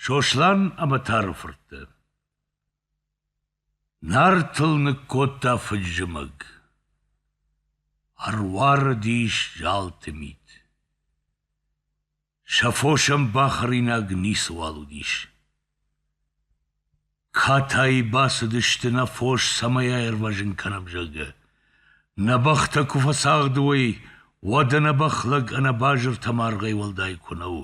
Сослан ӕмӕ Тары фыртты. Нартыл ныккодта фыд-зымӕг. Ӕруарыдис залты мит. Сӕ фосӕн бахӕринаг ницыуал уыдис. Катай бацыдысты нӕ фос цӕмӕй аирвӕзын кӕнӕм, зӕгъгӕ. Нӕ бӕхтӕ куы фӕцагъды уой, уӕд ӕнӕ бӕх лӕг ӕнӕ базыртӕ маргъӕй уӕлдай куы нӕ у.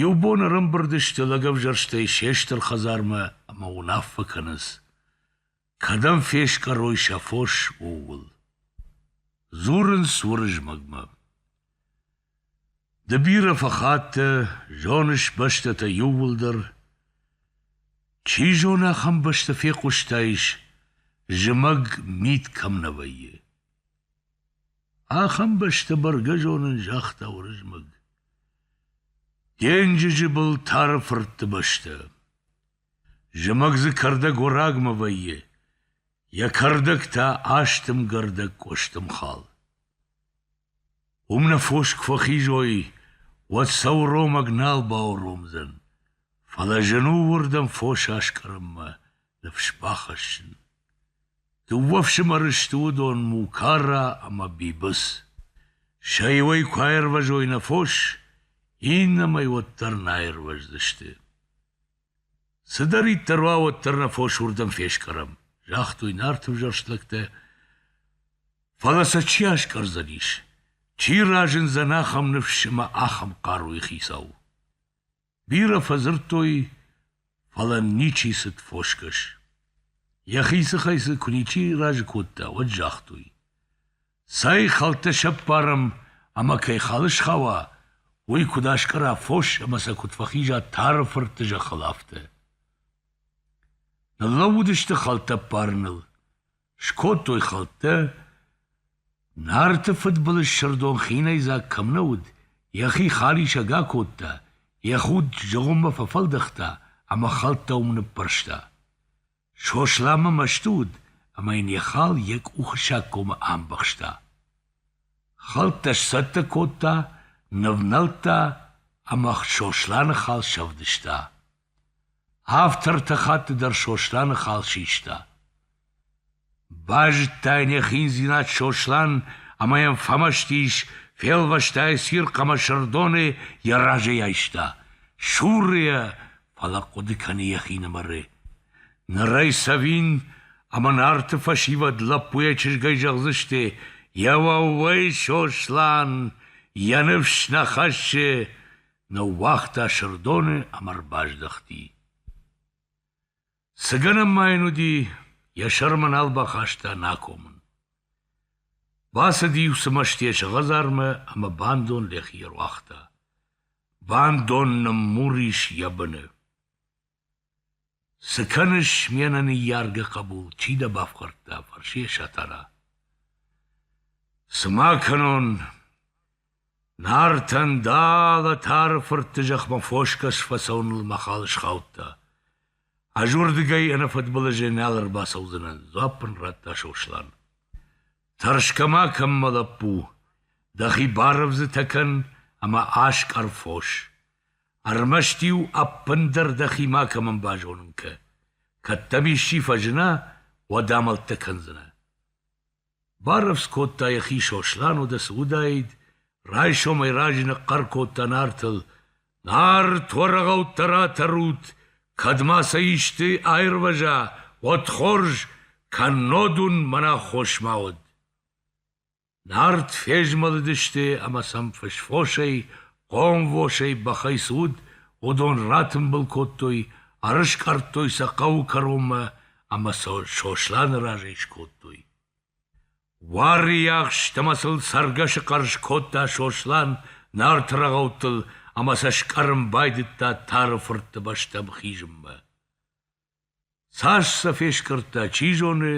Иу бон ӕрӕмбырд сты лӕгӕвзӕрстӕй се стыр хӕдзармӕ ӕмӕ уынаффӕ кӕнынц. Кӕдӕм фескъӕрой сӕ фос, ууыл. Дзурынц Уырызмӕгмӕ. Ды бирӕ фӕхаттӕ, зоныс бӕстӕтӕ иууылдӕр. Чи зоны, ахӕм бӕстӕ фехъуыстаис, зымӕг мит кӕм нӕ вӕййы. Ахӕм бӕстӕ бӕргӕ зонын, загъта Уырызмӕг. Денджызы был тары фыртты бӕстӕ. Зымӕг дзы кӕрдӕггорагмӕ вӕййы, йӕ кӕрдӕг та астымгӕрдӕг къуыстымхал. Уым нӕ фос куы фӕхизой, уӕд сӕ уромӕг нал бауромдзӕн, фӕлӕ зын у уырдӕм фос аскъӕрынмӕ ныфс бахӕссын. Дыууӕ фсымӕры сты уыдон Мукара ӕмӕ Бибыц. Сӕ иуӕй куы аирвӕзой нӕ фос, иннӕмӕй уӕддӕр наирвӕздзысты. Цыдӕриддӕр уа, уӕддӕр нӕ фос уырдӕм фескъӕрӕм, загътой нарты ӕвзӕрст лӕгтӕ. Фӕлӕ сӕ чи аскъӕрдзӕнис? Чи разындзӕн ахӕм ныфс ӕмӕ ахӕм хъаруйы хицау? Бирӕ фӕдзырдтой, фӕлӕ ничи цыд фосгӕс. Йӕхи сыхӕй цы куы ничи разы кодта, уӕд загътой: Цӕй хӕлттӕ сӕппарӕм ӕмӕ кӕй хал схауа, уый куыд аскъӕра фос ӕмӕ сӕ куыд фӕхиза Тары фыртты зӕххыл, афтӕ. Ныллӕууыдысты хӕлттӕ ӕппарыныл. Скодтой хӕлттӕ. Нарты фыдбылыз Сырдон хинӕйдзаг кӕм нӕ уыд, йӕхи халисӕг акодта, йӕ худ зыгъуыммӕ фӕфӕлдӕхта ӕмӕ хӕлттӕ уым ныппӕрста. Сосланмӕ мӕсты уыд, ӕмӕ йын йӕ хал йӕ къухы саггомы амбӕхста. Хӕлттӕ сцӕттӕ кодта, нывнӕлдта ӕмӕ Сосланы хал сӕвдыста. Автор ӕртӕ хатты дӕр Сосланы хал систа. Базыдта йын йӕ хиндзинад Сослан ӕмӕ йӕм фӕмӕстис, фелвӕста йӕ цирхъ ӕмӕ Сырдоны йӕ разӕй айста, суры йӕ, фӕлӕ хъуыды кӕны йӕхинымӕры. Ныр ӕй цӕвин ӕмӕ Нарты фӕсивӕд лӕппу йӕ чызгӕй зӕгъдзысты: «Еуӕууӕй, Сослан, йӕ ныфс нӕ хӕссы!» Ныууагъта Сырдоны ӕмӕ ӕрбаздӕхти. Цы гӕнӕн ма йын уыди, йӕ сӕрмӕ нал бахаста нӕ акомын. Бацыди иу цымӕстисы хӕдзармӕ ӕмӕ бандон лӕхи ӕруагъта. Бандон ныммур ис йӕ быны. Цы кӕныс, ме нӕ ныййаргӕ хъӕбул, чи дӕ бафхӕрдта? фӕрсы йӕ Сатана. Цы ма кӕнон, Нартӕн далӕ Тары фыртты зӕхмӕ фосгӕс фӕцӕуыныл мӕхъӕл схаудта. Ӕз уырдыгӕй ӕнӕ фыдбылызӕй нал ӕрбацӕудзынӕн, дзуапп ын радта Сослан. Тӕрсгӕ ма кӕн, мӕ лӕппу, дӕхи барывдзытӕ кӕн ӕмӕ аскъӕр фос. Ӕрмӕст-иу ӕппындӕр дӕхи макӕмӕн базонын кӕ. Кӕд дӕм исчи фӕзына, уӕд амӕлттӕ кӕндзынӕ. Барӕвдз кодта йӕхи Сослан уды цы уыдаид, райсомӕй раджы ныхъхъӕр кодта Нартыл: «Нарт уӕрагъӕуттӕ ратӕрут, кӕд ма сӕ исты аирвӕза, уӕд хорз, кӕннод уын мӕн аххос ма уӕд!» Нарт фезмӕлыдысты ӕмӕ сӕм фысфосӕй, хъомвосӕй бӕхӕй цы уыд, уыдон ратымбыл кодтой, ӕрыскъӕрдтой сӕ хъӕуы кӕронмӕ ӕмӕ сыл Сосланы разӕй скодтой. Уарыйахст ӕмӕ сыл цӕргӕсы хъӕрз кодта Сослан нарты рӕгъӕуттыл ӕмӕ сӕ скъӕрын байдыдта Тары фыртты бӕстӕм хизынмӕ. Цас сӕ фескъӕрдта, чи зоны,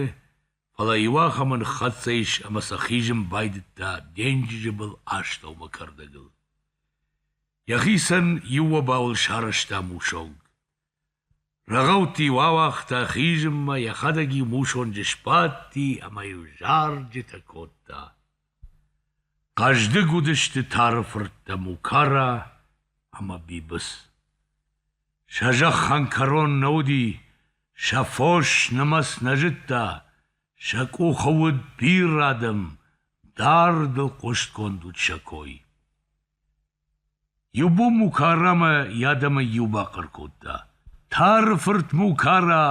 фӕлӕ иуахӕмы ныххӕццӕ ис ӕмӕ сӕ хизын байдыдта денджызы был астӕумӕ кӕрдӕгыл. Йӕхицӕн иу обауыл сарӕзта мусонг. Рӕгъӕутти-иу ауагъта хизынмӕ, йӕхӕдӕг-иу мусонджы сбадти ӕмӕ-иу зарджытӕ кодта. Хъӕздыг уыдысты тары фырттӕ Мукара ӕмӕ Бибыц. Сӕ зӕххӕн кӕрон нӕ уыди, сӕ фос нымӕц нӕ зыдта, сӕ къухы уыд бирӕ адӕм, дардыл хъустгонд уыд сӕ кой. Иу бон Мукарамӕ йӕ адӕмӕй иу бахъӕр кодта: «Тары фырт Мукара,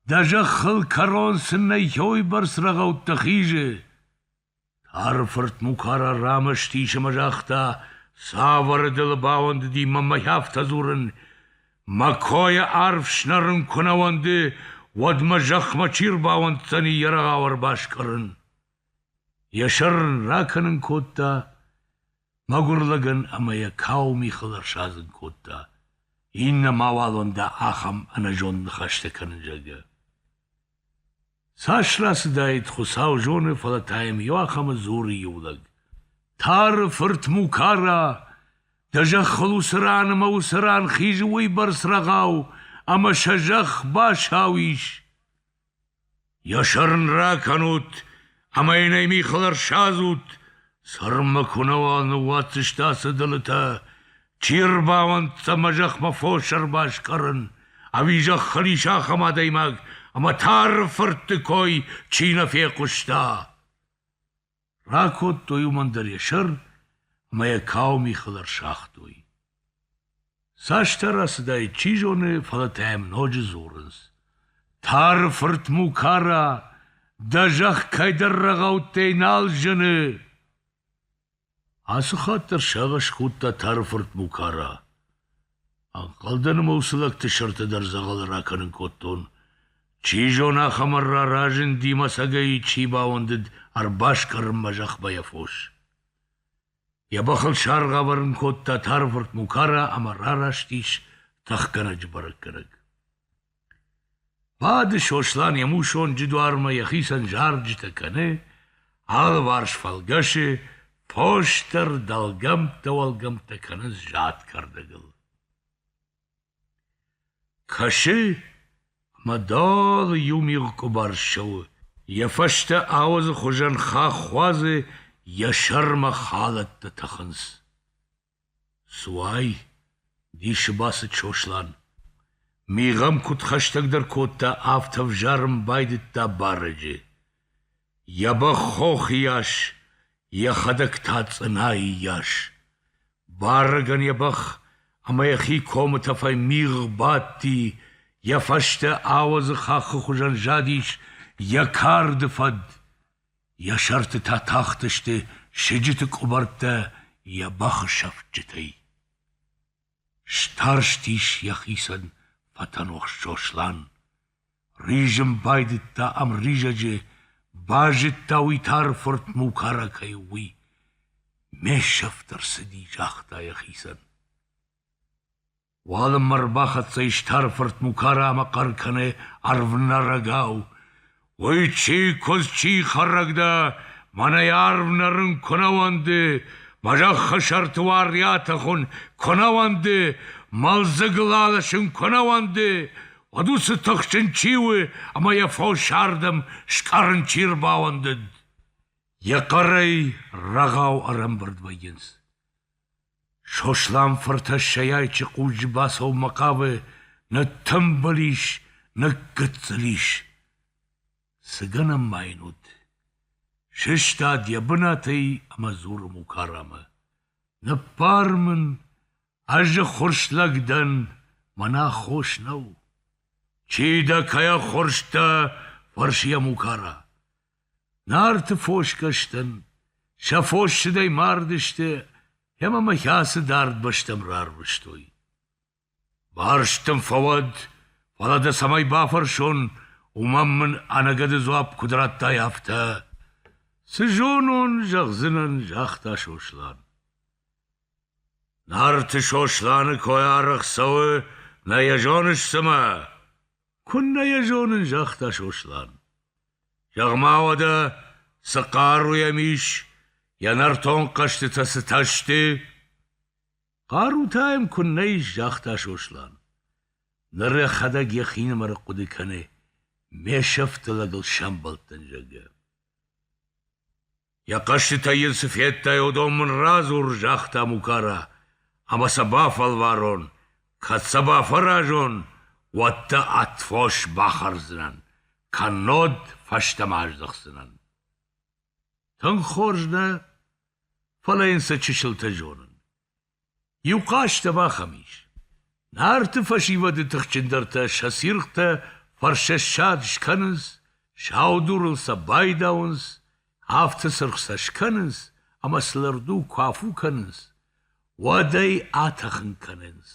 дӕ зӕххыл кӕрон цыннӕййой бӕрц рӕгъӕуттӕ хизы!» Тары фырт Мукара рамӕсты ис ӕмӕ загъта: «Цавӕр дылы бауӕндыди мӕ мӕй афтӕ дзурын? Мӕ койӕ арф снӕрын куы нӕ уӕнды, уӕд мӕ зӕхмӕ чи рбауӕнддзӕни йӕ рӕгъау ӕрбаскъӕрын?» Йӕ сӕр ракӕнын кодта мӕгуыр лӕгӕн ӕмӕ йӕ кау михыл ӕрсадзын кодта, иннӕ мауалон дӕ ахӕм ӕнӕзонд ныхӕстӕ кӕнын, зӕгъгӕ. Цас рацыдаид, Хуыцау зоны, фӕлӕ та йӕм иуахӕмы дзуры иу лӕг: «Тары фырт Мукара, дӕ зӕххыл уыцы ран ӕмӕ уыцы ран хизы уыйбӕрц рӕгъау, ӕмӕ сӕ зӕхх басау ис!» Йӕ сӕр ын ракӕнут ӕмӕ йын ӕй михыл ӕрсадзут, цырмы куынӕуал ныууадздзысты ацы дылытӕ, чи ӕрбауӕнддзӕн ӕмӕ зӕхмӕ фос ӕрбаскъӕрын, ӕви зӕххы ис ахӕм адӕймаг, ӕмӕ тары фыртты кой чи нӕ фехъуыста? Ракодтой уымӕн дӕр йӕ сӕр ӕмӕ йӕ кауы михыл ӕрсагътой. Цасдӕр ацыдаид, чи зоны, фӕлӕ та йӕм ноджы дзурынц. — Тары фырт Мукара, дӕ зӕхх кӕйдӕр рӕгъӕуттӕй нал зыны! Ацы хатт дӕр сагъӕс кодта Тары фырт Мукара. Ӕнхъӕлдӕн мыл цы лӕгты сӕртӕ дӕр дзӕгъӕлы ракӕнын кодтон. Чи зоны, ахӕм ӕрра разынди мӕцӕгӕй, чи бауӕндыд ӕрбаскъӕрын мӕ зӕхмӕ йӕ фос. Йӕ бӕхыл саргъ авӕрын кодта тарвырт Мукара ӕмӕ рараст ис тӕхгӕнӕджы бӕрӕггӕнӕг. Бады Сослан йӕ мусонджы дуармӕ, йӕхицӕн зарджытӕ кӕны, алыварс фӕлгӕсы, фосдӕр дӕлгӕмттӕ уӕлгӕмттӕ кӕнынц зад кӕрдӕгыл. Кӕсы, ӕмӕ далы иу мигъ къуыбар ссӕуы, йӕ фӕстӕ ауӕдзы хуызӕн хах уадзы, йӕ сӕрмӕ халӕттӕ тӕхынц. Цы уай? дисы бацыд Сослан. Мигъӕм куыд хӕстӕгдӕр кодта, афтӕ ӕвзарын байдыдта барӕджы. Йӕ бӕх хох ияс, йӕхӕдӕг та цъынайы йас. Барӕгӕн йӕ бӕх ӕмӕ йӕхи комы тӕфӕй мигъ бадти, йӕ фӕстӕ ауӕдзы хаххы хуызӕн задис йӕ карды фӕд. Йӕ сӕртытӕ тахтысты сыджыты къуыбӕрттӕ йӕ бӕхы сӕфтджытӕй. Старстис йӕхицӕн фӕтӕнохс Сослан. Ризын байдыдта ӕмризӕджы, базыдта уый тары фырт Мукара кӕй у, уый. Ме сӕфт ӕрцыди, загъта йӕхицӕн. Уалынмӕ ӕрбахӕццӕ ис тары фырт Мукара ӕмӕ хъӕр кӕны ӕрвнӕрӕгау: «Уый чи, куыдз чи, хӕрӕг дӕ? Мӕнӕй арв нӕрын куы нӕ уӕнды, мӕ зӕххы сӕрты уаръиатӕ хуын куы нӕ уӕнды, мӕлдзыгыл аласын куы нӕ уӕнды, уӕд уыцы тыхджын чи у, ӕмӕ йӕ фос ардӕм скъӕрын чи ӕрбауӕндыд?» Йӕ хъӕрӕй рӕгъау ӕрӕмбырд вӕййынц. Сослан-фырт ӕссӕйайчы хъуджы бацӕуынмӕ хъавы, ныттымбыл ис, ныггыццыл ис. Цы гӕнӕн ма йын уыд? Сыстад йӕ бынатӕй ӕмӕ дзуры Мукарамӕ: «Ныппар мын, ӕз ӕххуырс лӕг дӕн, мӕн аххос нӕу». «Чи дӕ, кӕй ӕххуырс дӕ?» — фӕрсы йӕ Мукара. Нарты фосгӕстӕн сӕ фоссыдӕй мардысты ӕмӕ мӕхи ацы дард бӕстӕм рарвыстой. Барст дын фӕуӕд, фӕлӕ дӕ цӕмӕй бафӕрсон, уымӕн мын ӕнӕгӕды дзуапп куыд радтай, афтӕ. «Цы зонон, зӕгъдзынӕн», — загъта Сослан. Нарты Сосланы кой арӕх цӕуы, нӕ йӕ зоныс цымӕ? Куыннӕ йӕ зонын, загъта Сослан. Зӕгъ-ма уӕдӕ, цы хъару йӕм ис, йӕ нӕртон хъӕзтытӕ цытӕ сты? Хъарутӕ йӕм куыннӕ ис, загъта Сослан. Ныр йӕхӕдӕг йӕхинымӕр хъуыды кӕны, ме сӕфты лӕгыл сӕмбӕлдтӕн, зӕгъгӕ. Йӕ хъӕстытӕй йын цы федтай, уыдон мын радзур, загъта Мукара, ӕмӕ сӕ бафӕлварон, кӕд сӕ бафӕразон, уӕд дӕ ӕд фос бахӕрдзынӕн, кӕннод фӕстӕмӕ аздӕхдзынӕн. Тынг хорз нӕ, фӕлӕ йын цы чысылтӕ зонын. Иу хъазт ӕвахӕм ис: Нарты фӕсивӕды тыхджындӕртӕ сӕ цирхътӕ фӕрсӕссад скӕнынц, сау дурыл сӕ байдауынц, афтӕ цыргъ сӕ скӕнынц ӕмӕ сыл ӕрду куы афу кӕнынц, уӕд ӕй атӕхын кӕнынц.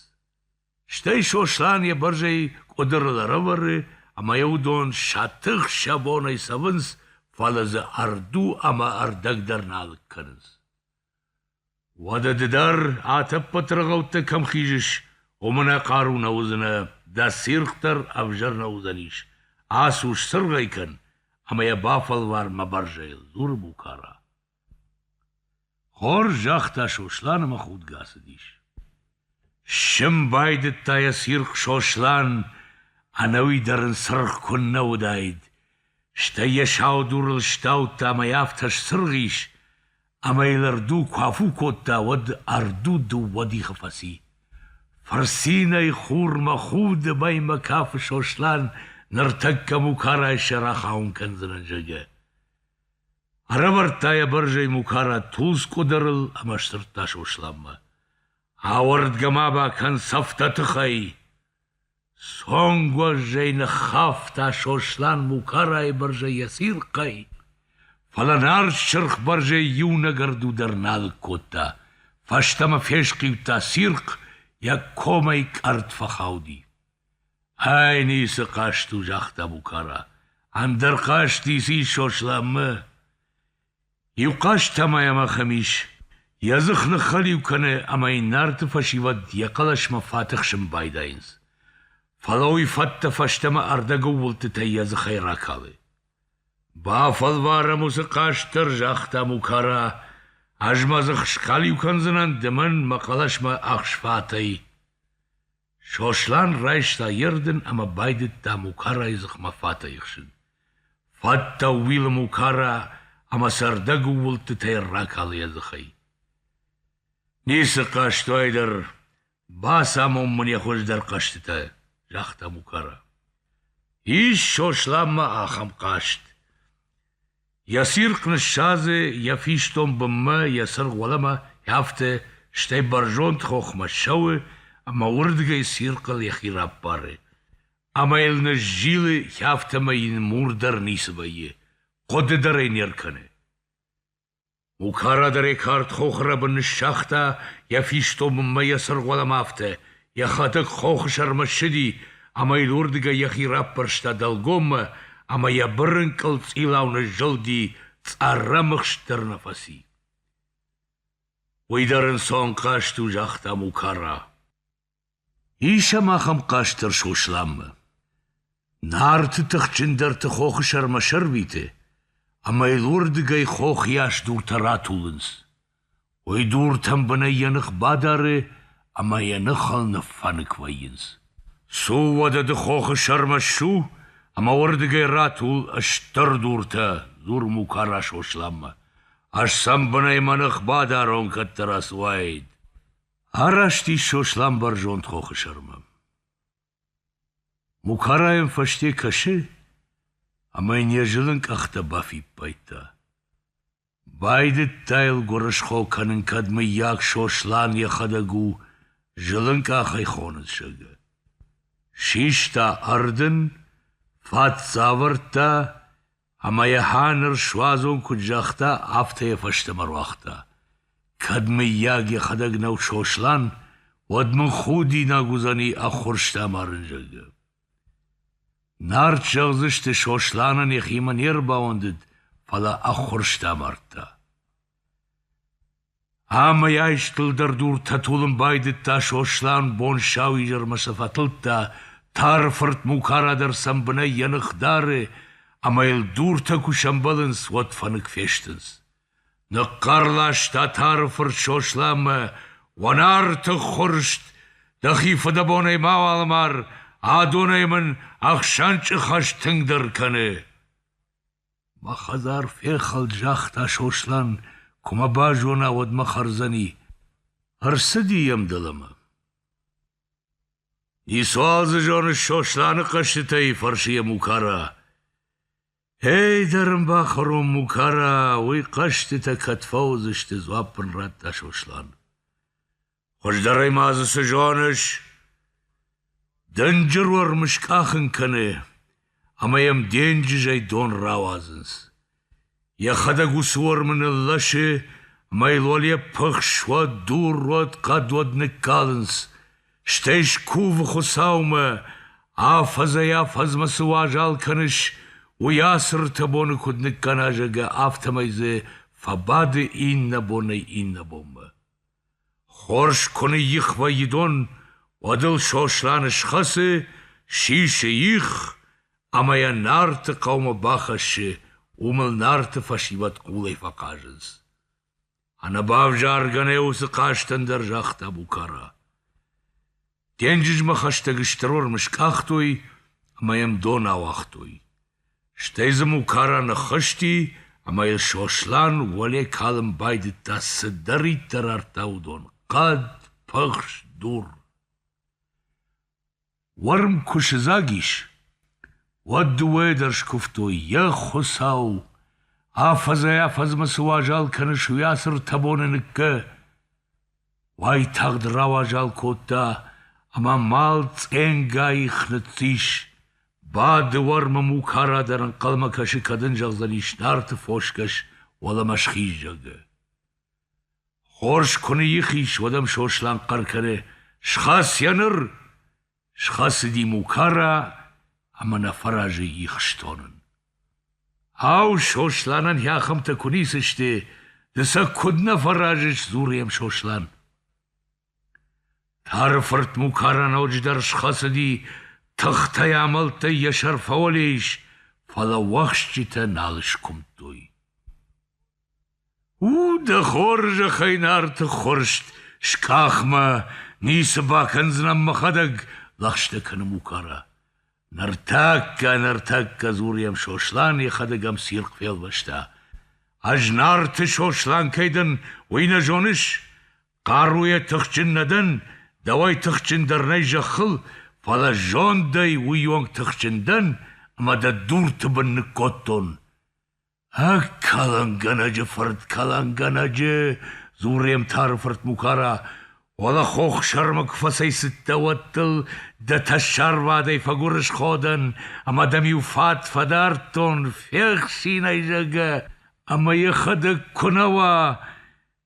Стӕй Сослан йӕ бӕрзӕй къуыдырыл ӕрӕвӕры ӕмӕ йӕ уыдон сӕ тых сӕ бонӕй цӕвынц, фӕлӕ дзы ӕрду ӕмӕ ӕрдӕг дӕр нал кӕнынц. Уӕдӕ ды дӕр атӕппӕт рыгъӕуттӕ кӕм хизыс, уымӕн ӕнӕхъару нӕ уыдзынӕ, дӕ циргъ дӕр ӕвзӕр нӕ уыдзӕнис. Ацу, сцыргъӕй кӕн ӕмӕ йӕ бафӕлвар мӕ бӕрзӕйыл, дзуры Букара. Хорз загъта Сослан ӕмӕ худгӕ ацыдис. Ссын байдыдта йӕ цирхъ Сослан, ӕнӕуи дӕр ын цыргъ куыннӕ уыдаид, стӕй йӕ сау дурыл стаудта ӕмӕ йӕ афтӕ сцыргъ ис, ӕмӕ йыл ӕрду куы афу кодта, уӕд ӕрду дыууӕ дихы фӕци. Фырцинӕй хурмӕ худы мӕймӕ кафы Сослан, ныртӕккӕ Мукарайы сӕр ахауын кӕндзынӕн, зӕгъгӕ. Ӕрӕвӕрдта йӕ бӕрзӕй Мукара тулдз къуыдырыл ӕмӕ сдзырдта Сосланмӕ. Ауӕрдгӕ-ма бакӕн цӕфтӕ тыхӕй! Цонгуӕззӕй ныххафта Сослан Мукарайы бӕрзӕй йӕ цирхъӕй, фӕлӕ нард сырх бӕрзӕй иунӕг ӕрду дӕр нал кодта, фӕстӕмӕ фесхъиудта цирхъ, йӕ комӕй къӕртт фӕхауди. Ӕй ницы хъазт у, загъта Букара. Ӕндӕр хъазт ницы ис Сосланмӕ. Иу хъазт та ма йӕм ахӕм ис. Йӕ дзых ныххӕлиу кӕны ӕмӕ йын нарты фӕсивӕд йӕ хъӕлӕсмӕ фӕтыхсын байдайынц. Фӕлӕ уый фӕттӕ фӕстӕмӕ ӕрдӕгыл уылдтытӕй йӕ дзыхӕй ракалы. «Бафӕлварӕм уыцы хъазт дӕр», — загъта Мукара. «Ӕз мӕ дзых скалиу кӕндзынӕн, ды мӕн мӕ хъӕлӕсмӕ ӕхсфатӕй». Сослан райста йе рдын ӕмӕ байдыдта Мукарайы дзыхмӕ фатӕ ихсын. Фӕдтӕ ууилы Мукара ӕмӕ цӕрдӕг ууылдтытӕй ракалы йӕ дзыхӕй. «Ницы хъазтуай дӕр, бацамон мын йӕ хуыздӕр хъӕзтытӕ», — загъта Мукара. Ис Сосланмӕ ахӕм хъазт. Йӕ цирхъ ныссадзы йӕ фистон бынмӕ, йӕ цыргъ уӕлӕмӕ, афтӕ, стӕй бӕрзонд хохмӕ ссӕуы ӕмӕ уырдыгӕй цирхъыл йӕхи раппары. Ӕмӕ йыл ныззилы, афтӕмӕй йын мур дӕр ницы вӕййы, хъуыды дӕр ӕй не ркӕны. Укарадырӕй кард хохрӕбын ныссагъта йӕ фистомынмӕ йӕ сырхуӕлӕмӕ афтӕ, йӕхӕдӕг хохы сӕрмӕ ссыди ӕмӕ йыл уырдыгӕй йӕхи раппӕрста дӕлгоммӕ ӕмӕ йӕ бырынкъыл цъилау ныззылди, цъӕррӕмыхст дӕр нӕ фӕци. Уый дӕр ын цонхъазт у, загъта Мукара. Ис ӕм ахӕм хъазт дӕр Сосланмӕ. Нарты тыхджындӕрты хохы сӕрмӕ сӕрвиты, ӕмӕ йыл уырдыгӕй хохыйас дуртӕ ратулынц. Уый дуртӕн бынӕй йӕ ных бадары ӕмӕ йӕ ныхыл ныффӕнык вӕййынц. Цу уӕдӕ ды хохы сӕрмӕ ссу ӕмӕ уырдыгӕй ратул стыр дуртӕ, дзур Мукара Сосланмӕ. Ӕз сӕм бынӕй мӕ ных бадарон, кӕддӕра цы уаид. Араст ис Сослан бӕрзонд хохы сӕрмӕ. Мукара йӕм фӕсте кӕсы, ӕмӕ йын йӕ зылын къӕхтӕ бафиппайдта. Байдыдта йыл гуырысхо кӕнын, кӕд мыййаг Сослан йӕхӕдӕг у зылынкъахӕй хоныцӕгы. Систа ӕрдын, фӕд цӕвӕрдта, Ӕмӕ йӕ хӕ ныр суадзон куыд загъта, афтӕ йӕ фӕстӕмӕ руагъта. Кӕд, мыййаг, йӕхӕдӕг нӕу Сослан, уӕд мын худинаг уыдзӕни ӕххуырсты амарын, зӕгъгӕ. Нарт зӕгъдзысты, Сосланӕн йӕхимӕ не рбауӕндыд, фӕлӕ ӕххуырсты амардта. Ӕмӕ йӕ истылдӕр дур тӕтулын байдыдта Сослан бон сау изӕрмӕ цы фӕтылдта, тары фырт Мукара дӕр сӕм бынӕй йӕ ных дары, ӕмӕ йыл дуртӕ куы сӕмбӕлынц, уӕд фӕнык фестынц. Ныхъхъӕр ласта тары фырт Сосланмӕ: «Уынарты ххуырст! Дӕхи фыдӕбонӕй мауал амар, адонӕй мын ӕхсӕнчъы хӕс тынгдӕр кӕны!» Мӕ хӕдзар фехӕлд, загъта Сослан, куы мӕ базона, уӕд мӕ хӕрдзӕни. Ӕрцыди йӕм дӕлӕмӕ. Ницуал дзы зоныс Сосланы хъӕзтытӕй, фӕрсы йӕ Мукара. Эй дӕр ын бахӕрон, Мукара, уый хъӕзтытӕ кӕд фӕуыдзысты, дзуапп ын радта Сослан. Хуыздӕрӕй ма дзы цы зоныс? Дынджыр уӕрм скъахын кӕны, ӕмӕ йӕм денджызӕй дон рауадзынц. Йӕхӕдӕг уыцы уӕрмы ныллӕсы, ӕмӕ йыл уал йӕ пыхс уӕд, дур уӕд, хъӕд уӕд ныккалынц, стӕй скувы Хуыцаумӕ, афӕдзӕй-афӕдзмӕ цы уазал кӕныс, уый ацы ртӕ боны куыд ныккӕна, зӕгъгӕ, афтӕмӕй дзы фӕбады иннӕ бонӕй иннӕ бонмӕ. Хорз куы ныйих вӕййы дон, уӕд ыл Сослан схӕцы, сисы их ӕмӕ йӕ Нарты хъӕумӕ бахӕссы, уым ыл Нарты фӕсивӕд хъулӕй фӕхъазынц. Ӕнӕбавзаргӕ нӕ уыцы хъазтӕн дӕр загъта Букара. Денджызмӕ хӕстӕг стыр уырм скъахтой ӕмӕ йӕм дон ауагътой. Стӕй дзы Мукара ныххызти ӕмӕ йыл Сослан уӕле калын байдыдта цыдӕриддӕр ардта, уыдон — хъӕд, пыхс, дур. Уырм куы сыдзаг ис, уӕд дыууӕйӕ дӕр скуывтой: Йе, Хуыцау, афӕдзӕй-афӕдзмӕ цы уазал кӕныс уый ацы ртӕ боны ныккӕ! Уайтагъд рауазал кодта ӕмӕ мал цъенгай их ныццис. Бады уӕрмы мукара дӕр ӕнхъӕлмӕ кӕсы, кӕд ын зӕгъдзӕнис нарты фосгӕс уӕлӕмӕ схиз, зӕгъгӕ. Хорз куы ныйих ис, уӕд ӕм Сослан хъӕр кӕны: «Схӕц йӕ ныр!» Схӕцыди Мукара ӕмӕ нӕ фӕразы их стонын. Ау, Сосланӕн йӕхӕмтӕ куы ницы сты, ды сӕ куыд нӕ фӕразыс, дзуры йӕм Сослан. Тары фырт Мукара ноджыдӕр схӕцыди, тыхтӕй амӕлттӕй йӕ сӕр фӕуӕле ис, фӕлӕ уӕхсчытӕ нал скуымдтой. У дӕ хорзӕхӕй нарты ххуырст, скъахмӕ ницы бакӕндзынӕн мӕхӕдӕг, лӕгъстӕ кӕны Мукара. Ныртӕккӕ, ныртӕккӕ дзуры йӕм Сослан йӕхӕдӕг ӕм цирхъ фелвӕста. Ӕз нарты Сослан кӕй дӕн, уый нӕ зоныс? Хъаруйӕ тыхджын нӕ дӕн, дӕуӕй тыхджындӕр нӕй зӕххыл, фӕлӕ зондӕй уый онг тыхджын дӕн, ӕмӕ дӕ дурты бын ныккодтон. Ӕ кӕлӕнгӕнӕджы фырт кӕлӕнгӕнӕджы, Дзурӕмтары фырт Мукара, уӕлӕ хох сӕрмӕ куы фӕцӕйцыдтӕ, уӕд дыл дӕ тӕссарвадӕй фӕгуырысходӕн ӕмӕ дӕм-иу фат фӕдардтон, фехсинӕй, зӕгъгӕ, ӕмӕ йӕхӕдӕг куы нӕ уа,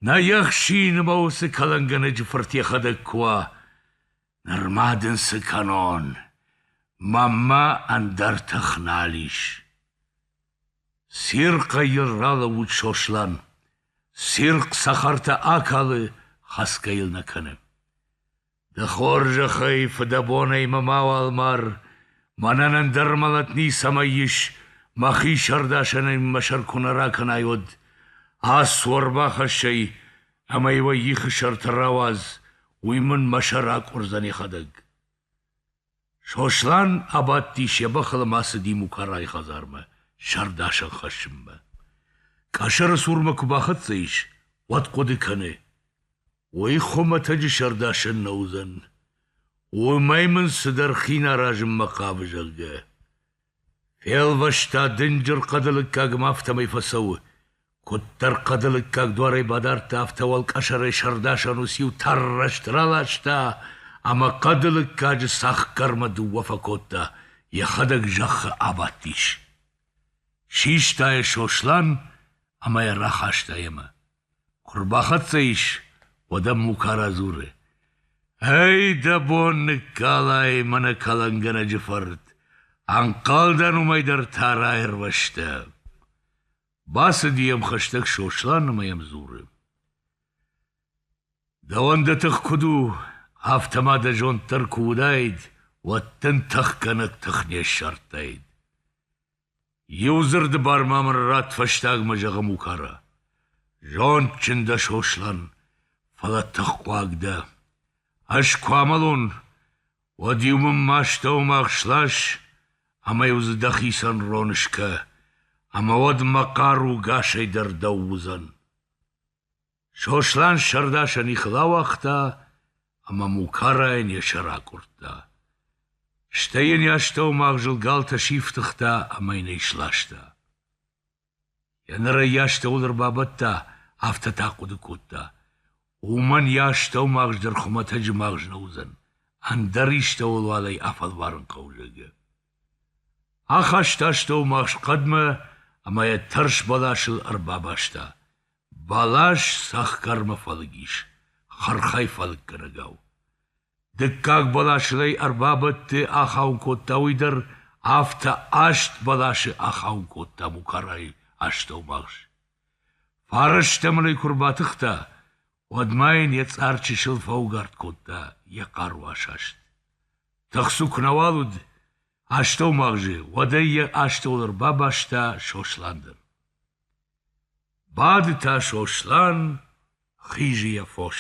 нӕ ехсины мӕ уыцы кӕлӕнгӕнӕджы фырт йӕхӕдӕг куы уа. Нырма дын цы кӕнон, мӕнмӕ ӕндӕр тых нал ис. Цирхъӕй йын ралӕууыд Сослан. Цирхъ цӕхӕртӕ акалы, хӕцгӕ йыл нӕ кӕны. Ды хорзӕхӕй, фыдӕбонӕй мӕ мауал мар, мӕнӕн ӕндӕр мӕлӕт ницӕмӕй ис, мӕхи сӕрдасӕнӕй мӕ сӕр куы нӕ ракӕнай, уӕд. Ацу ӕрбахӕссӕй ӕмӕ-иу ӕй ихы сӕрты рауадз, уый мын мӕ сӕр акъуырдзӕн йӕхӕдӕг. Сослан абадтис йӕ бӕхыл ӕмӕ ацыди Мукарайы хӕдзармӕ сӕрдасӕн хӕссынмӕ. Къӕсӕры цурмӕ куы бахӕццӕ ис, уӕд хъуыды кӕны: уый хуымӕтӕджы сӕрдасӕн нӕ уыдзӕн. Уымӕй мын цыдӕр хин аразынмӕ хъавы, зӕгъгӕ. Фелвӕста дынджыр хъӕды лыггаг ӕмӕ афтӕмӕй фӕцӕуы. Куыддӕр хъӕды лыггаг дуарӕй бадардта, афтӕ уӕлкъӕсӕрӕй сӕрдасӕн ус-иу тӕррӕст раласта ӕмӕ хъӕды лыггаджы цӕхгӕрмӕ дыууӕ фӕкодта, йӕхӕдӕг зӕххы абадтис. Систа йӕ Сослан ӕмӕ йӕ рахаста йемӕ. Куы рбахӕццӕ ис, уӕд ӕм Мукара дзуры: «Ӕй, дӕ бон ныккалай, мӕнӕ кӕлӕнгӕнӕджы фырт, ӕнхъӕлдӕн уымӕй дӕр та раирвӕзтӕ!» Бацыди йӕм хӕстӕг Сослан ӕмӕ йӕм дзуры: «Дӕуӕн дӕ тых куыд у, афтӕ ма дӕ зонд дӕр куы уыдаид, уӕд дын тыхгӕнӕг тых не ссардтаид!» Иу дзырды бар ма мын ратт фӕстагмӕ зӕгъын Мукара. Зондджын дӕ, Сослан, фӕлӕ тыххуаг дӕ. Ӕз куы амӕлон, уӕд-иу мын ма стӕумагъ слас ӕмӕ-иу дзы дӕхицӕн рон скӕ, ӕмӕ уӕд мӕ хъару гасӕй дӕр дӕу уыдзӕн. Сослан сӕрдасӕн ихыл ауагъта ӕмӕ Мукарайӕн йӕ сӕр акъуырдта. Стӕй йын йӕ астӕумагъзыл галтӕ сифтыгъта ӕмӕ йын ӕй сласта. Йӕ нырӕй йӕ астӕуыл ӕрбабадта, афтӕ та хъуыды кодта, уымӕн йӕ астӕумагъз дӕр хуымӕтӕджы магъз нӕ уыдзӕн, ӕндӕр истӕуыл уал ӕй афӕлварын хъӕуы, зӕгъгӕ. Ахаста астӕумагъз хъӕдмӕ ӕмӕ йӕ тӕрс бӕласыл ӕрбабаста, Бӕлас цӕхгӕрмӕ фӕлыг ис, хырхӕй фӕлыггӕнӕгау. Дыккаг бӕласыл ӕй ӕрбабадты ахауын кодта уый дӕр, афтӕ аст бӕласы ахауын кодта Мукарайы астӕумагъз. Фарӕстӕм ын ӕй куы рбатыхта, уӕд ма йын йӕ цъар чысыл фӕугард кодта йӕ хъару асаст. Тыхцу куы нӕуал уыд астӕумагъзы, уӕд ӕй йӕ астӕуыл ӕрбабаста Сослан дӕр. Бады та Сослан, хизы йӕ фос.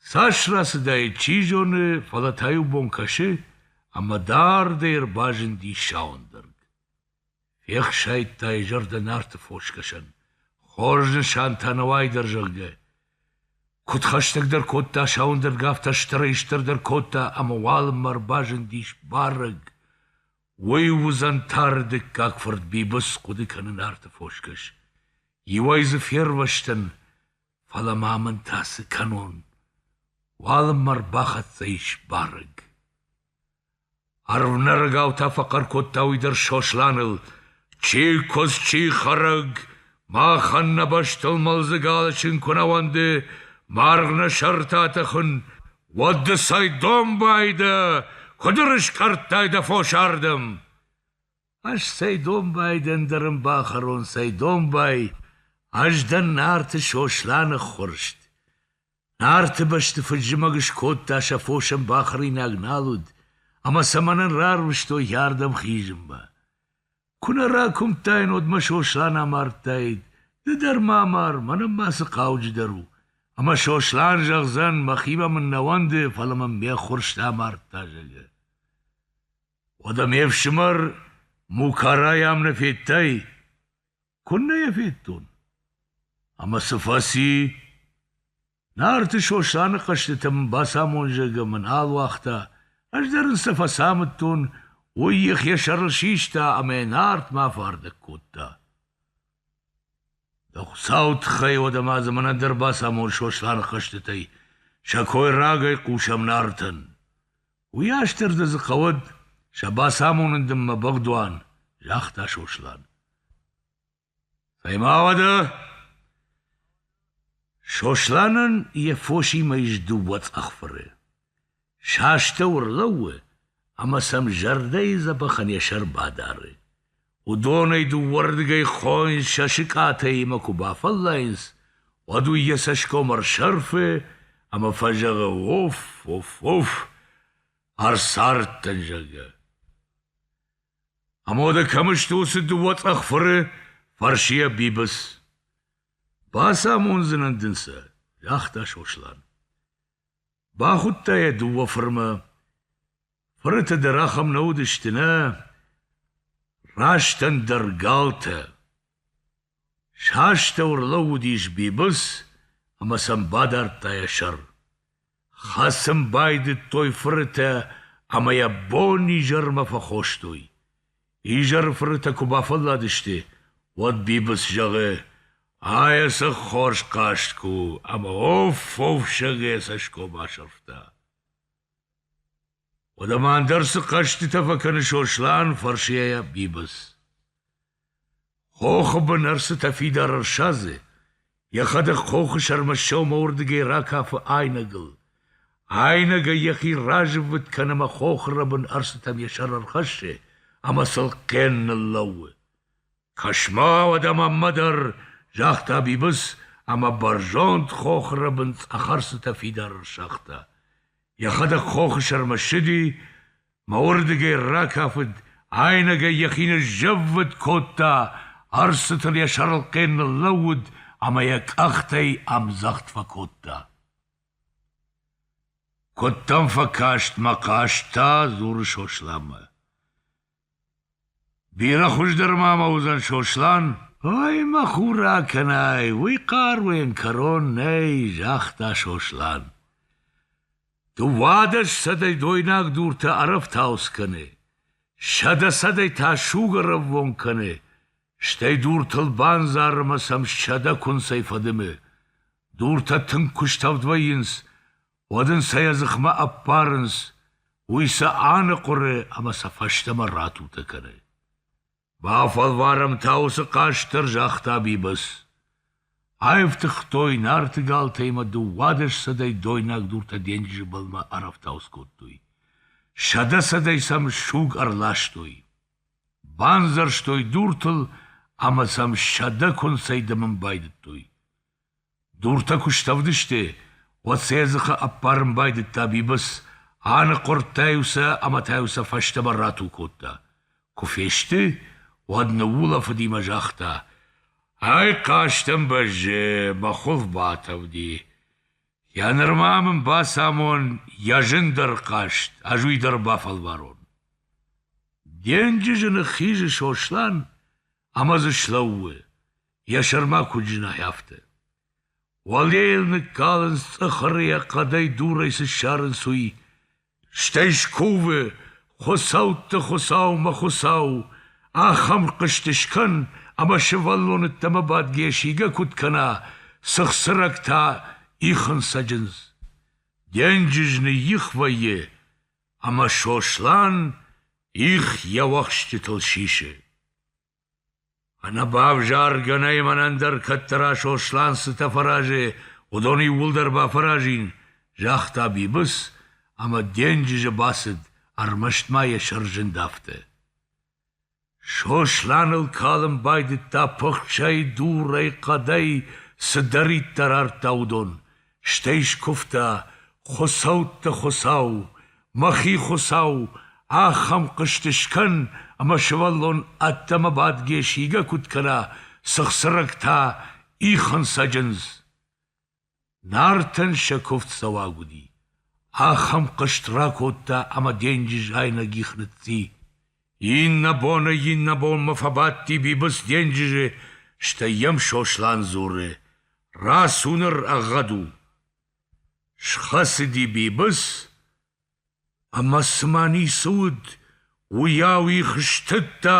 Цас рацыдаид, чи зоны, фӕлӕ та-иу бон кӕсы, ӕмӕ дардӕй ӕрбазынди Сауӕндӕрг. Фехсайдта йӕ зӕрдӕ Нарты фосгӕсӕн, хорз нысан та нӕуӕй дӕр, зӕгъгӕ. Куыд хӕстӕгдӕр кодта Сауӕндӕрг, афтӕ стырӕй-стырдӕр кодта, ӕмӕ уалынмӕ ӕрбазындис барӕг. Уый уыдзӕн тары дыккаг фырт Бибыц хъуыды кӕны Нарты фосгӕс. Иуӕй дзы фервӕзтӕн, фӕлӕ ма мын та цы кӕнон? Уалынмӕ рбахӕццӕ ис барӕг. Ӕрвнӕрӕгау та фӕхъӕр кодта уый дӕр Сосланыл, Чи куыдз, чи хӕрӕг, махӕн нӕ бӕстыл мӕлдзыг алысын куы нӕ уӕнды, маргъ нӕ сӕрты атӕхын, уӕд ды цӕй домбай дӕ, куыд ӕрыскъӕрдтай дӕ фос ардӕм? Ӕз цӕй домбай дӕн дӕ рын бахӕрон, цӕй домбай, ӕз дӕн Нарты Сосланы ххуырст. Нарты бӕсты фыд-зымӕг скодта сӕ фосӕн бахӕринаг нал уыд, ӕмӕ сӕ мӕнӕн рарвыстой йӕ ардӕм хизынмӕ. Куы нӕ ракуымдтаин, уӕд мӕ Сослан амардтаид. Ды дӕр ма амар, мӕнӕн ма цы хъауджыдӕр у. Ӕмӕ Сослан зӕгъдзӕн, мӕхимӕ мын нӕ уӕнды, фӕлӕ мӕм ме ххуырсты амардта, зӕгъы. Уӕдӕ ме фсымӕр Мукарай ам нӕ федтай? Куыннӕ йӕ федтон? Ӕмӕ цы фӕци? Нарты Сосланы хъӕзтытӕ мын бацамон, зӕгъгӕ мын нал уагъта, ӕз дӕр ын цы фӕцамыдтон, уый йӕхи сӕрыл систа ӕмӕ Нартмӕ афардӕг кодта. Дӕ Хуыцауы тыххӕй уӕдӕ ма дзы мӕнӕн дӕр бацамон Сосланы хъӕзтытӕй, сӕ кой рагӕй хъусӕм Нартӕн. Уый астӕрды дзы хъӕуӕд, сӕ бацамонын дын мӕ бӕгъдуан, — загъта Сослан. — Цӕй-ма уӕдӕ! Сосланӕн йӕ фосимӕ ис дыууӕ цъӕхфыры. Сӕ астӕу ӕрлӕууы ӕмӕ сӕм зӕрдӕйы дзӕбӕхӕн йӕ сӕр бадары. Уыдонӕй дыууӕрдыгӕй хойын сӕ сыкъатӕимӕ куы бафӕллайынц, уӕд уый йӕ цӕсгом ӕрсӕрфы ӕмӕ фӕзӕгъы: «Оф, оф, оф, ӕрцардтӕн, зӕгъгӕ». Амода кӕм сты уыцы дыууӕ цъӕхфыры? фӕрсы йӕ Бибыц. Бацамондзынӕн дын сӕ, загъта Сослан. Бахуыдта йӕ дыууӕ фырмӕ. Фырыты дӕр ахӕм нӕ уыдысты, нӕ? Раст ӕндӕр галтӕ. Сӕ астӕу ӕрлӕууыдис Бибыц ӕмӕ сӕм бадардта йӕ сӕр. Хӕцын байдыдтой фырытӕ ӕмӕ йӕ бон-изӕрмӕ фӕхостой. Изӕры фырытӕ куы бафӕлладысты, уӕд Бибыц зӕгъы: «Ай цы хорз хъазт куы у, ӕмӕ оф-оф сӕгӕй йӕ цӕсгом асӕрфта». Уӕдӕ ма ӕндӕр цы хъӕзтытӕ фӕкӕны Сослан? фӕрсы йӕ Бибыц. Хохы бын ӕрцытӕ фидар ӕрсадзы, йӕхӕдӕг хохы сӕрмӕ сӕумӕуырдыгӕй ракафы айнӕгыл. Айнӕгӕй йӕхи разыввытт кӕны ӕмӕ хохы рӕбын ӕрцытӕм йӕ сӕр ӕрхӕссы ӕмӕ сыл хъен ныллӕууы. Кӕс-ма, уӕдӕ мӕнмӕ дӕр, загъта Бибыц ӕмӕ бӕрзонд хохры бын цъӕхарсытӕ фидар ӕрсагъта. Йӕхӕдӕг хохы сӕрмӕ ссыди, мӕ уырдыгӕй ракафыд, айнӕгӕй йӕхи ныззӕввытт кодта, ӕрсытыл йӕ сӕрылхъӕн ныллӕууыд ӕмӕ йӕ къӕхтӕй ӕмдзӕгъд фӕкодта. Куыддӕм фӕкаст мӕ хъӕстӕ, дзуры Сосланмӕ. Бирӕ хуыздӕр ма мӕ уыдзӕн Сослан? Ой, мӕ хур акӕнай, уый хъӕр уен кӕрон нӕй, загъта Сослан. Дыууадӕс сӕдӕй дойнаг дуртӕ ӕрӕфтауц кӕны, сӕдӕ сӕдӕй та суг ӕрӕввонг кӕны, стӕй дуртыл бандзары ӕмӕ сӕм сӕдӕ куынцӕй фӕдымы. Дуртӕ тынг куыстӕвд вӕййынц, уӕд ын сӕ йӕ дзыхмӕ ӕппарынц, уый сӕ аныхъуыры ӕмӕ сӕ фӕстӕмӕ ратутӕ кӕны. «Бафӕлварӕм та уыцы хъазт дӕр», — загъта Бибыц. Аивтыгътой Нарты галтӕ ӕмӕ дыууадӕссӕдӕй дойнаг дуртӕ денджызы былмӕ ӕрӕфтауц кодтой. Сӕдӕсӕдӕй сӕм суг ӕрластой. Бандзӕрстой дуртыл ӕмӕ сӕм сӕдӕ куынцӕй дымын байдыдтой. Дуртӕ куы стӕвдысты, уӕд сӕ дзыхы ӕппарын байдыдта Бибыц, аныхъуырдта-иу сӕ ӕмӕ та-иу сӕ фӕстӕмӕ рату кодта. Куы фесты, уӕд ныуулӕфыдимӕ загъта: «Ай хъазтӕн бӕззы, мӕ хуылф батавди. Йӕ нырма мын бацамон, йӕ зын дӕр хъазт, ӕз уый дӕр бафӕлварон». Денджызы ныххизы Сослан ӕмӕ дзы слӕууы. Йӕ сӕрма куыд зынай, афтӕ. Уӕлейыл ныккалынц цъыхыры йӕ хъӕдӕй дурӕй цы ссарынц, уый. Стӕй скувы, Хуыцӕутты Хуыцау, мӕ Хуыцау, ахӕм хъызты скӕн, ӕмӕ сывӕллоныддӕмӕ бадгӕ сигӕ куыд кӕна, цыхцырӕгтӕ ихын цӕджындз. Денджыз ныйих вӕййы, ӕмӕ Сослан их йӕ уӕхсчытыл сисы. Ӕнӕ бавзаргӕ нӕй мӕнӕн дӕр кӕддӕра Сослан цытӕ фӕразы, уыдон иууылдӕр бафӕразин, загъта Бибыц ӕмӕ денджызы бацыд, ӕрмӕст ма йӕ сӕрзынд афтӕ. Сосланыл калын байдыдта пыхсӕй, дурӕй, хъӕдӕй, цыдӕриддӕр ардта, уыдон, Стӕй скуывта, Хуыцӕутты Хуыцау, мӕхи Хуыцау, ахӕм хъызт скӕн, ӕмӕ сывӕллон ӕддӕмӕ бадгӕ сигӕ куыд кӕна, цы хсырӕг та ихын сӕджындз. Нартӕн сӕ куывд цӕуаг уыди. Ахӕм хъызт ракодта ӕмӕ денджыз айнӕг их ныцци. Иннӕ боны иннӕбонмӕ фӕбадти Бибыц денджызы, стӕй йӕм Сослан дзуры: «Рацу ныр, ӕгъгъӕд у!» Схӕцыди Бибыц ӕмӕ цыма ницы уыд, уыйау их стыдта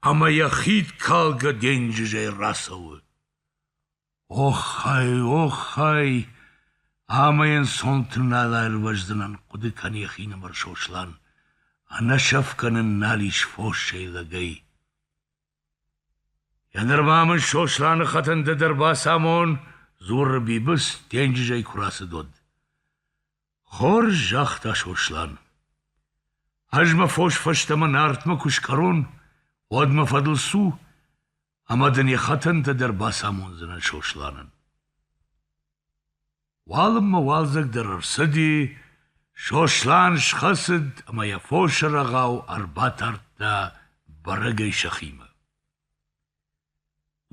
ӕмӕ йӕ хидкалгӕ денджызӕй рацӕуы. Оххай, оххай, ӕмӕ йын сонты нал аирвӕздзынӕн, хъуыды кӕны йӕхинымӕр Сослан. Ӕнӕсӕфгӕ нын нал ис фоссӕй лӕгӕй. Нырма мын Сосланы хӕтын ды дӕр бацамон, дзуры Бибыц, денджызӕй куы рацыд уӕд. Хорз, загъта Сослан. Ӕз мӕ фос фӕстӕмӕ Нартмӕ куы скъӕрон, уӕд мӕ фӕдыл цу, ӕмӕ дын йӕ хӕтӕнтӕ дӕр бацамондзынӕн Сосланӕн. Уалынмӕ уалдзӕг дӕр ӕрцыди, Сослан схӕцыд ӕмӕ йӕ фосы рӕгъау ӕрбатардта бӕрӕгӕй сӕхимӕ.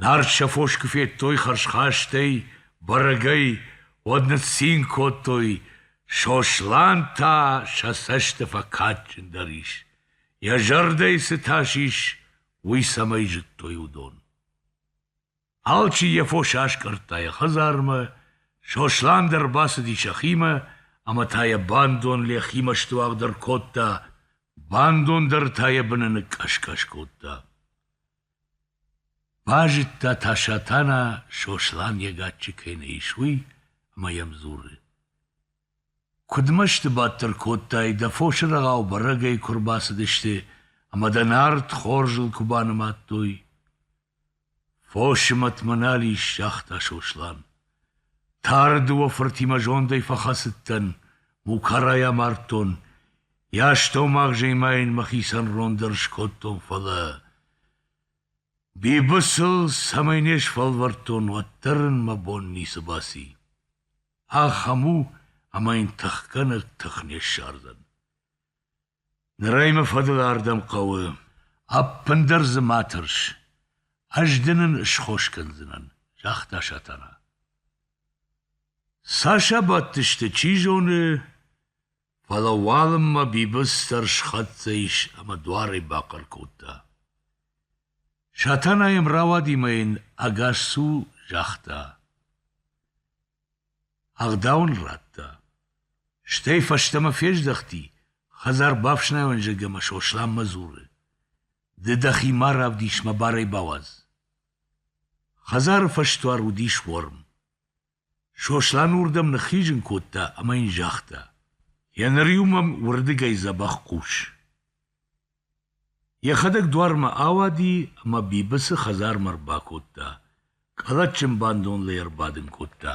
Нарт сӕ фос куы федтой хӕрзхастӕй, бӕрӕгӕй, уӕд ныццин кодтой, Сослан та сӕ цӕсты фӕкадджындӕр ис, йӕ зӕрдӕйы цы тас ис, уый цӕмӕй зыдтой, уыдон. Алчи йӕ фосы аскъӕрдта йӕ хӕдзармӕ, Сослан дӕр бацыди сӕхимӕ, ӕмӕ та йӕ бандон Лехимӕ стуӕгдӕр кодта, бандон дӕр та йӕ быны ныккъӕскъӕс кодта. Базыдта та Сатана, Сослан йӕ гаччы кӕй нӕ ис, уый, ӕмӕ йӕм дзуры. Куыд мӕсты бадтыр кодтай, дӕ фосы рӕгъау бӕрӕгӕй куы рбацыдысты ӕмӕ дӕ нард хорзыл куы банымадтой. — Фосы мӕтмӕ нал ис, — загъта Сослан. — Тары дыууӕ фыртимӕ зондӕй фӕхӕцыдтӕн, мукарӕй амардтон, йӕ астӕумагъзӕй ма йын мӕхицӕн рон дӕр скодтон, фӕлӕ... Бибысыл цӕмӕй не сфӕлвӕрдтон, уӕддӕр ын мӕ бон ницы баци. Ахӕм у, ӕмӕ йын тыхгӕнӕг тых не ссардзӕн. Ныр ӕй мӕ фӕдыл ардӕм хъӕуы. Ӕппындӕр дзы ма тӕрс. Ӕз дын ын схос кӕндзынӕн, загъта Сатана. Цас абадтысты, чи зоны, Фӕлӕ уалынмӕ Бибыц дӕр схӕццӕ ис ӕмӕ дуарӕй бахъӕр кодта. Сатана йӕм рауади мӕ йын ӕгас цу загъта. Ӕгъдау ын радта. Стӕй фӕстӕмӕ фездӕхти, хӕдзар бафснайонзӕг ӕмӕ Сосланмӕ дзуры. Ды дӕхи ма равдис мӕ барӕй бауадз. Хӕдзары фӕсдуар уыдис уорм. Сослан уырдӕм ныххизын кодта ӕмӕ йын загъта: Еныр-иу мӕм уырдыгӕй дзӕбӕх хъус. Йӕхӕдӕг дуармӕ ауади ӕмӕ Бибыцы хӕдзармӕ ӕрбакодта, къӕлӕтджын бандон лӕй ӕрбадын кодта.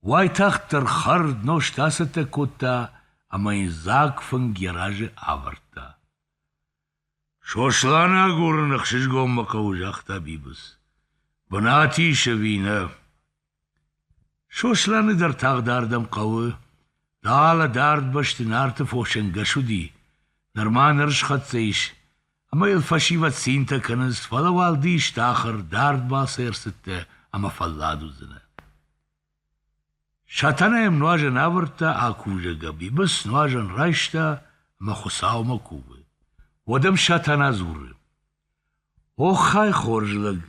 Уайтагъддӕр хӕрд нозт ацӕттӕ кодта ӕмӕ йын дзаг фынг йӕ разы авӕрдта. Сосланы агурын ӕхсызгонмӕ хъӕуы, загъта Бибыц. Бынат ис ӕви нӕ? Сосланы дӕр тагъд ардӕм хъӕуы. Далӕ дард бӕсты нарты фосӕнгӕс уыди. Нырма ныр схӕццӕ ис, ӕмӕ йыл фӕсивӕд цинтӕ кӕнынц, фӕлӕ уал ды исты ахӕр, дард балцы ӕрцыдтӕ ӕмӕ фӕллад уыдзынӕ. Сатана йӕм нуазӕн авӕрдта, акувгӕ гӕбибыс нуазӕн райста ӕмӕ Хуыцаумӕ кувы. Уӕдӕм Сатана дзуры: «Оххай, хорз лӕг,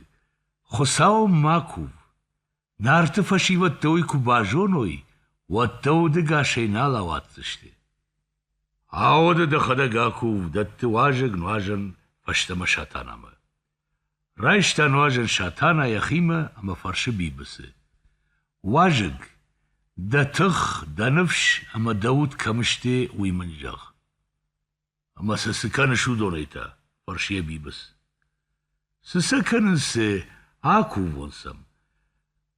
Хуыцау ма кув! Нарты фӕсивӕдтӕ уый куы базоной, уӕд дӕ удыгасӕй нал ауадздзысты». Ауды дӕхӕдӕг акув, дӕтты уазӕг нуазӕн фӕстӕмӕ Сатанамӕ. Райста нуазӕн Сатана йӕхимӕ ӕмӕ фӕрсы Бибыцы. Уазӕг, дӕ тых, дӕ ныфс ӕмӕ дӕ уд кӕм сты, уый мын зӕгъ. — Ӕмӕ сӕ цы кӕныс уыдонӕй та? — фӕрсы йӕ Бибыц. — Цы сӕ кӕнынц, сӕ акувон сӕм.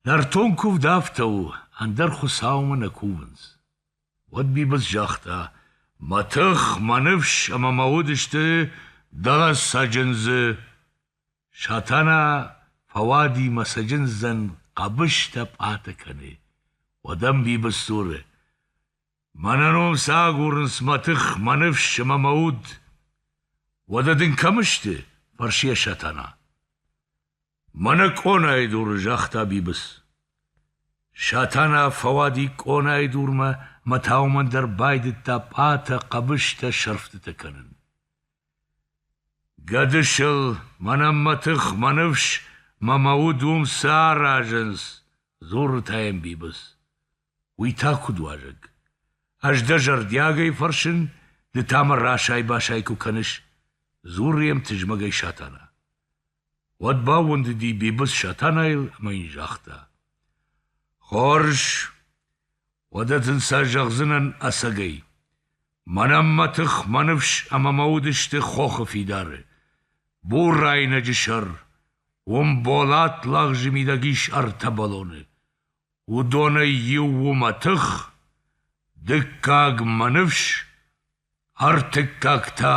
Нӕртон куывд афтӕ у, ӕндӕр Хуыцаумӕ нӕ кувынц. Уӕд Бибыц загъта: Мӕ тых, мӕ ныфс ӕмӕ мӕ уд сты дӕ цӕджындзы. Сатана фӕуади мӕ цӕджындзӕн хъӕбыстӕ пъатӕ кӕны. Уӕд ӕм Бибыц дзуры: Мӕнӕ ном цы агурынц мӕ тых, мӕ ныфс ӕмӕ мӕ уд. Уӕдӕ дын кӕм сты? фӕрсы йӕ Сатана. Мӕнӕ къонайы дуры, загъта Бибыц. Сатана фӕуади къонайы дурмӕ мӕ та уымӕн дӕр байдыдта пъатӕ, хъӕбыстӕ, сӕрфтытӕ кӕнын. Гӕдысыл, мӕнӕн мӕ тых, мӕ ныфс мӕ мӕ уд уым цы аразынц? дзуры та йӕм Бибыц. Уый та куыд уазӕг? Ӕз дӕ зӕрдиагӕй фӕрсын, ды та мӕ расай-басай куы кӕныс, дзуры йӕм тызмӕгӕй Сатана. Уӕд баууӕндыди Бибыц Сатанайыл ӕмӕ йын загъта: «Хорз, уӕдӕ дын сӕ зӕгъдзынӕн ӕцӕгӕй: мӕнӕн мӕ тых, мӕ ныфс ӕмӕ мӕ уд сты хохы фидары. бурайнӕджы сӕр, уым болат лагъзы мидӕг ис ӕртӕ бӕлоны. уыдонӕй иу у мӕ тых, дыккаг мӕ ныфс, ӕртыккаг та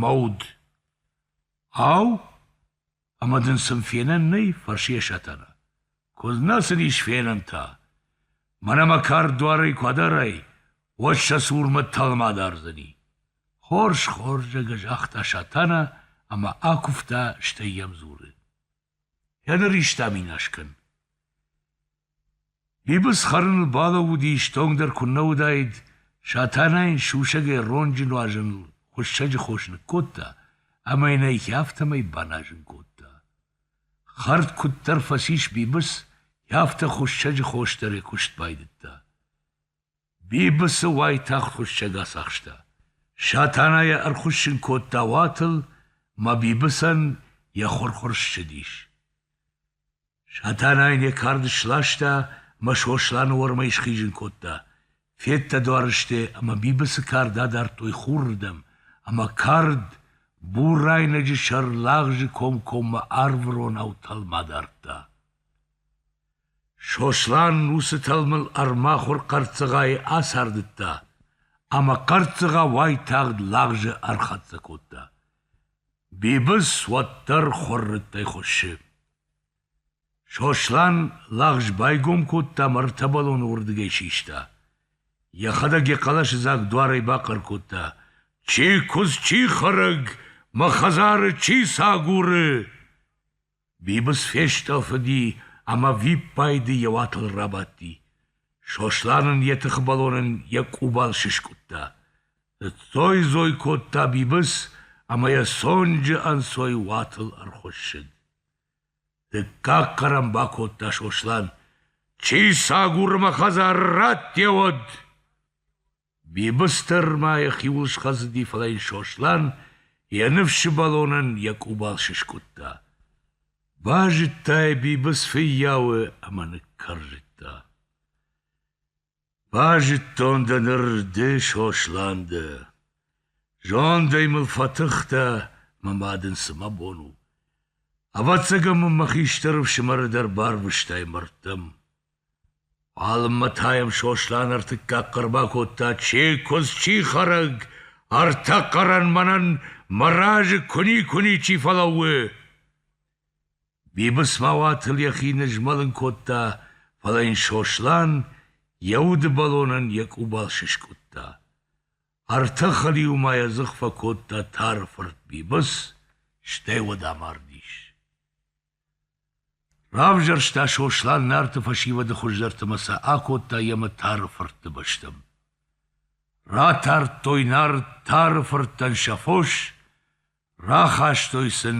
мӕ уд». Ау, ӕмӕ дын сын фенӕн нӕй? фӕрсы йӕ Сатана. Куыд нӕ сын ис фенӕн та? Мӕнӕ мӕ кард дуарӕй куы адарай, уӕд сӕ цурмӕ тӕлмӕ адардзӕни. Хорз, хорз, зӕгӕ загъта Сатана ӕмӕ акуывта, стӕй йӕм дзуры. Йӕ ныристӕм инас кӕн. Бибыц хӕрыныл балӕууыди, стонгдӕр куыннӕ уыдаид, Сатана йын сусӕгӕй ронджы нуазӕныл хуыссӕджы хос ныккодта ӕмӕ йын ӕй афтӕмӕй баназын кодта. Хӕрд куыддӕр фӕцис Бибыц, афтӕ хуыссӕджы хос дӕр йӕ куыст байдыдта. Бибыцы уайтагъд хуыссӕг ацахста. Сатана йӕ ӕрхуыссын кодта уатыл, мӕ Бибыцӕн йӕ хуыр-хуыр ссыдис. Сатана йын йӕ кард сласта мӕ Сосланы уӕрмӕй схизын кодта. Федта дуарысты ӕмӕ Бибыцы кард адардтой хурырдӕм, ӕмӕ кард бурайнӕджы сӕр лагъзы комкоммӕ арвыронау тӕлмац дардта. Сослан уыцы тӕлмыл ӕрмахуыр хъӕрццыгъайы ацардыдта ӕмӕ хъӕрццыгъа уайтагъд лагъзы ӕрхӕццӕ кодта. Бибыц уӕддӕр хуыррыттӕй хуыссы. Сослан лагъз байгом кодта мӕ ӕртӕбӕлоны уырдыгӕй систа. Йӕхӕдӕг йӕ хъӕлӕсыдзаг дуарӕй бахъӕр кодта: «Чи куыдз, чи хӕрӕг, мӕ хӕдзары чи сагуры!» Бибыц фестъӕлфыди ӕмӕ виппайды йӕ уатыл рабадти. Сослан ын йӕ тыхбӕлонӕн йӕ къубал сыскъуыдта. Ныццой-дзой кодта Бибыц ӕмӕ йӕ цонджы ӕнцой уатыл ӕрхуыссыд. Дыккаг хъӕр ӕм бакодта Сослан: — Чи сагуры мӕ хӕдзары, радте уӕд! Бибыстыр ма йӕхиуыл схӕцыди, фӕлӕ йын Сослан йӕ ныфсы бӕлонӕн йӕ къубал сыскъуыдта. Базыдтай Бибыц фыййауы ӕмӕ ныккӕрзыдта. Базыдтон дӕ ныр ды, Сослан, ды. Зондӕй мыл фӕтыхтӕ, мӕ мад ын цы мӕ бон у. Ӕвӕццӕгӕн мын мӕ хистӕр ӕфсымӕры дӕр барвыстай мӕрдтӕм. Алынмӕ та йӕм Сослан ӕртыккаг хъӕр бакодта: Чи куыдз, чи хӕрӕг, ӕртӕ хъӕрӕн мӕнӕн мӕ разы куыни-куыни чи фӕлӕууы! Бибыц ма уатыл йӕхи нызмӕлын кодта, фӕлӕ йын Сослан йӕ удыбӕлонӕн йӕ къубал сыскъуыдта. Ӕртӕ хӕлиу ма йӕ дзых фӕкодта тары фырт Бибыц, стӕй уӕд амардис. Равзӕрста Сослан Нарты фӕсивӕды хуыздӕрты ӕмӕ сӕ акодта йемӕ Тары фыртты бӕстӕм. Ратардтой Нарт Тары фырттӕн сӕ фос, рахастой сын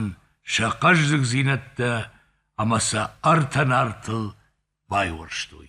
сӕ хъӕздыгдзинӕдтӕ ӕмӕ сӕ ӕртӕ Нартыл байуӕрстой.